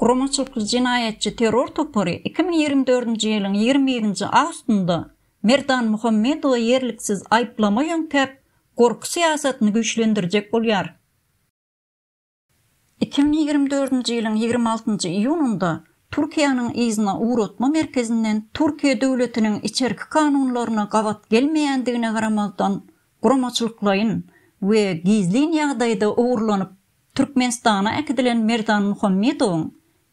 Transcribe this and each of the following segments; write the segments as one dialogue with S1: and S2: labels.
S1: Guramaçylykly jenaýatçy terror topary iki müň ýigrimi dördünji ýylyň ýigrimi birinji awustynda Merdan Muhammedowy ýerliksiz aýyplama ýöňkäp, gorky syýasatyny güýçlendirjek bolýar. Iki müň ýigrimi dördünji ýylyň ýigrimi altynjy iýunynda Türkiýäniň yzyna ugratma merkezinden Türkiýe döwletiniň içerki kanunlaryna gabat gelmeýändigine garamazdan, guramaçylyklaýyn we gizlin ýagdaýda ogurlanyp Türkmenistana äkidilen Merdan Muhammedowyň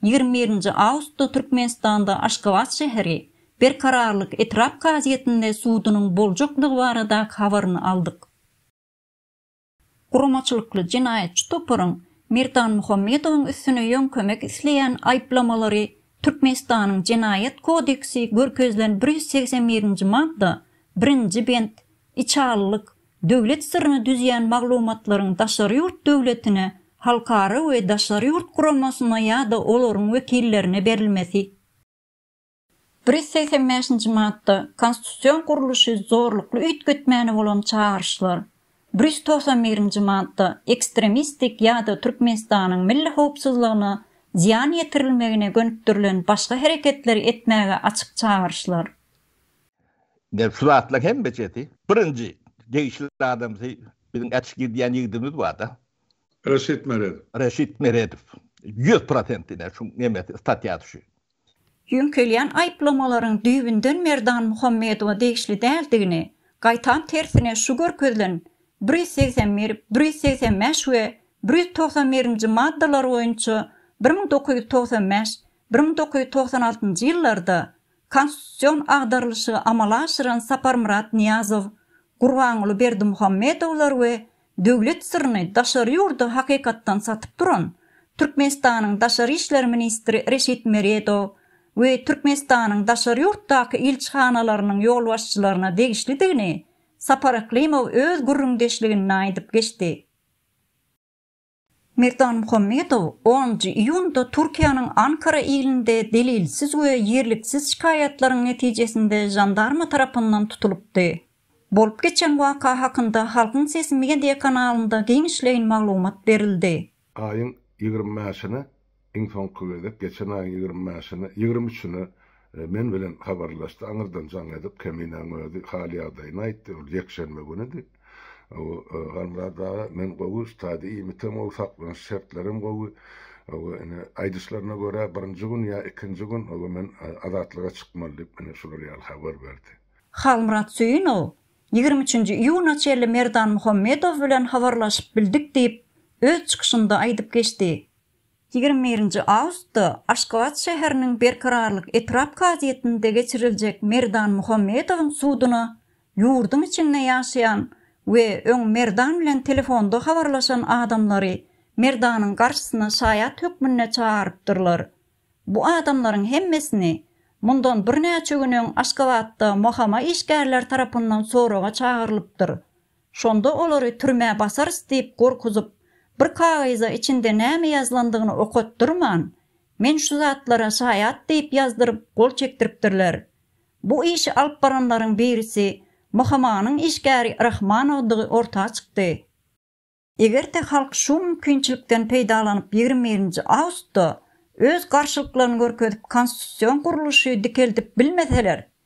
S1: ýigrimi birinji awgustda Türkmenistanda Aşgabat şäheri Berkararlyk etrap kazyýetinde sudunyň boljakdygy baradaky habaryny aldyk. Guramaçylykly jenaýatçy toparyň Merdan Muhammedowyň üstüne ýöňkemek isleýän aýyplamalary Türkmenistanyň Jenaýat kodeksi görkezilen bir ýüz segsen birinji madda birinji bent Içalylyk, döwlet syryny düzýän maglumatlaryň daşary ýurt döwletine, halkara we daşary ýurt guramasyna ýa-da olaryň wekillerine berilmesi. Bir ýüz segsen bäşinji madda, Konstitusion gurluşy zorlukly üýtgetmäne bolan çagyryşlar. Bir ýüz togsan birinji madda, Ekstremistik ýa-da Türkmenistanyň milli howpsuzlygyna zyýan ýetirilmegine gönükdirilen başga hereketleri etmäge açyk çagyryşlar. Ine, şu
S2: zatlaryň hemmesi, birinji, degişli adamsy biziň äçgir diýen ýigdimiz bar-da. Reşit Meredow. Reşit Meredow. Ýüz prosent ine, şu nemesi, statýasy şu. Ýöňkelýän
S1: aýyplamalaryň düýbünden Merdan Muhammedowa degişli däldigini, gaýtam tersine şu görkezilen bir ýüz segsen bir, bir ýüz segsen bäş we bir ýüz togsan birinji maddalar boýunça bir müň dokuz ýüz togsan bäş, bir müň dokuz ýüz togsan altynjy ýyllarda Konstitusion agdarylyşygy amala aşyran Saparmyrat Nyýazow, Gurbanguly Berdimuhamedowlar we döwlet syryny daşary ýurda hakykatdan satyp duran Türkmenistanyň daşary işler ministri Reşit Meredow we Türkmenistanyň daşary ýurtdaky ilçihanalarynyň ýolbaşçylaryna degişlidigini Sapar Yklymow öz gürrüňdeşliginde aýdyp geçdi. Merdan Muhammedow onunjy iýunda Türkiýäniň Ankara ilinde delilsiz we ýerliksiz şikaýatlaryň netijesinde žandarma tarapyndan tutulypdy. Bolup geçen waka hakynda Halkyň sesi media kanalynda giňişleýin maglumat berildi. Aýyň
S3: ýigrimi bäşine Iň soňky gezek geçen aýyň ýigrimi bäşine, ýigrimi üçine men bilen habarlaşdy. Aňyrdan jaň edip, Keminäň özi hal-ýagdaýyny aýtdy. Ol ýekşenbe günüdi. Halmyrat aga, men gowy, stadiýa iýmitem gowy, saklanyş şertlerem gowy. Ine, aýdyşlaryna görä, birinji gün ýa ikinji gün men azatlyga çykmaly diýip, ine, şular ýaly habar berdi. Halmyrat
S1: Söýünow, Ýigrimi üçünji iýuna çenli Merdan Muhammedow bilen habarlaşyp bildik diýip, öz çykyşynda aýdyp geçdi. Ýigrimi birinji awgustda Aşgabat şäheriniň Berkararlyk etrap kazyýetinde geçiriljek Merdan Muhammedowyň suduna ýurduň içinde ýaşaýan we öň Merdan bilen telefonda habarlaşan adamlary Merdanyň garşysyna şaýat hökmünde çagyrypdyrlar. Bu adamlaryň hemmesini mundan birnäçe gün öň Aşgabatda MOHAMA işgärleri tarapyndan soraga çagyrylypdyr. Şonda olary türmä basarys diýip gorkuzyp, bir kagyza içinde näme ýazylandygyny okatdyrman, men şu zatlara şaýat diýip ýazdyryp gol çekdiripdirler. Bu işi alyp baranlaryň birisi MHMA-nyň işgäri Rahmanowdygy orta çykdy. Eger-de halk şu mümkinçilikden peýdalanyp ýigrimi birinji awustda öz garşylyklaryny görkezip konstitusion gurluşy dikeldip bilmeseler,